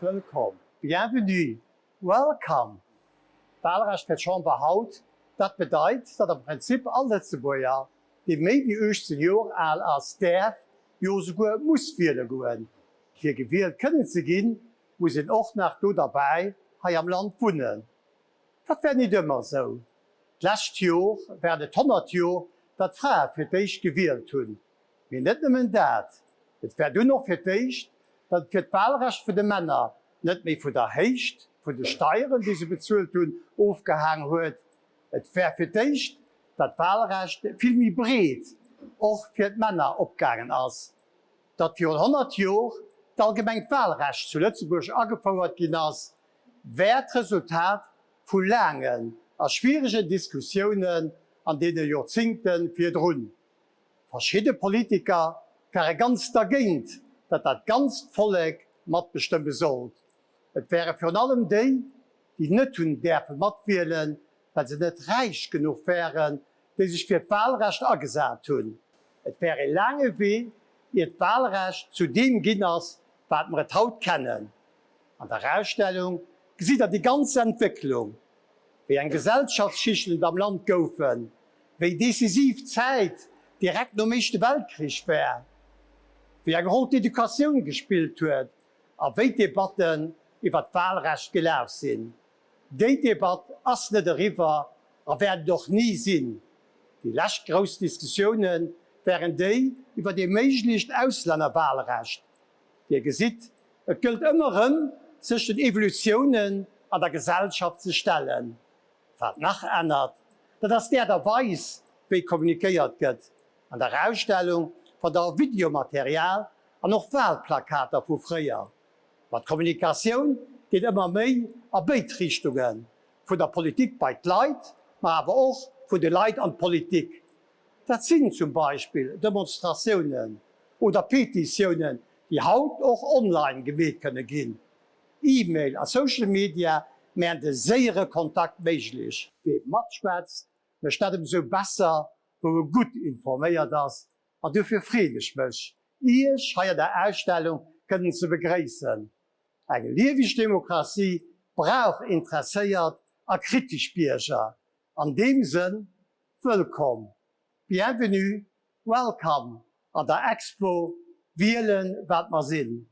Wëllkomm, bienvenue, welcome, Walrecht fir d'Chamber haut, dat bedeit, datt am Prinzip all Lëtzebuerger, dee méi wéi 18 Joer al ass, däerf, jo souguer muss wiele goen. Fir gewielt kënnen ze ginn, muss een och nach do derbäi hei am Land wunnen. Dat war nit ëmmer esou. D'lescht Jor waren et 100 Jor, datt Frae fir d'éischt gewielt hunn. Mee net nëmmen dat, et war dunn och fir d'éischt, datt et fir d'Wahlrecht vun de Männer net méi vun der Héicht vun de Steieren, déi se bezuelt hunn, ofgehaang huet. Et war fir d'éischt, datt d'Wahlrecht vill méi breet och fir d'Männer opgaangen ass, datt virun 100 Jor d'allgemengt Wahlrecht zu Lëtzebuerg agefouert ginn ass, war d'Resultat vu laangen a schwieregen Diskussiounen an deene Jorzingte virdrun. Verschidde Politiker ware ganz dergéint, datt dat ganzt Vollek matbestëmme sollt. Et wäre virun allem déi, déi net hunn däerfe matwielen, well se net räich genuch wären, déi sech fir d'Walrecht agesat hunn. Et wär ee laange Wee, ier d'Walrecht zu deem ginn ass, wat mer et haut kennen. An der Ausstellung gesitt der déi ganz Entwécklung, wéi eng Gesellschaftsschichten et am Land goufen, wéi decisiv d'Zäit direkt nom Éischte Weltkrich war, wéi eng Roll d'Educatioun gespillt huet a wéi d'Debatten iwwer d'Wahlrecht gelaf sinn. Déi Debatt ass net eriwwer a wäert et och ni sinn. Déi lescht grouss Diskussioune waren déi iwwer ee méiglecht Auslännerwahlrecht, Dir gesitt, et gëllt ëmmer rëm, sech den Evolutiounen an der Gesellschaft ze stellen. Wat nach ännert, dat ass d'Aart a Weis, wéi kommunikéiert gëtt. An der Ausstellung fannt der och Videomaterial an och Walplakater vu fréier. Ma d'Kommunikatioun geet ëmmer méi a béid Richtungen, vun der Politik bei d'Leit, ma awer och vun de Leit an d'Politik. Dat sinn zum Beispill Demonstratiounen oder Petitiounen, déi haut och online gemeet kënne ginn. E-Mail a Social Media männ de séiere Kontakt méiglech. Wee matschwätzt, mécht dat emsou besser, wou e gutt informéiert ass an dofir freet ech mech, Iech hei an der Ausstellung kënnen ze begréissen. Eng lieweg Demokratie brauch interesséiert a kritesch Bierger. An deem Sënn. Wëllkomm, Bienvenue, Welcome an der Expo Wielen, wat mer sinn.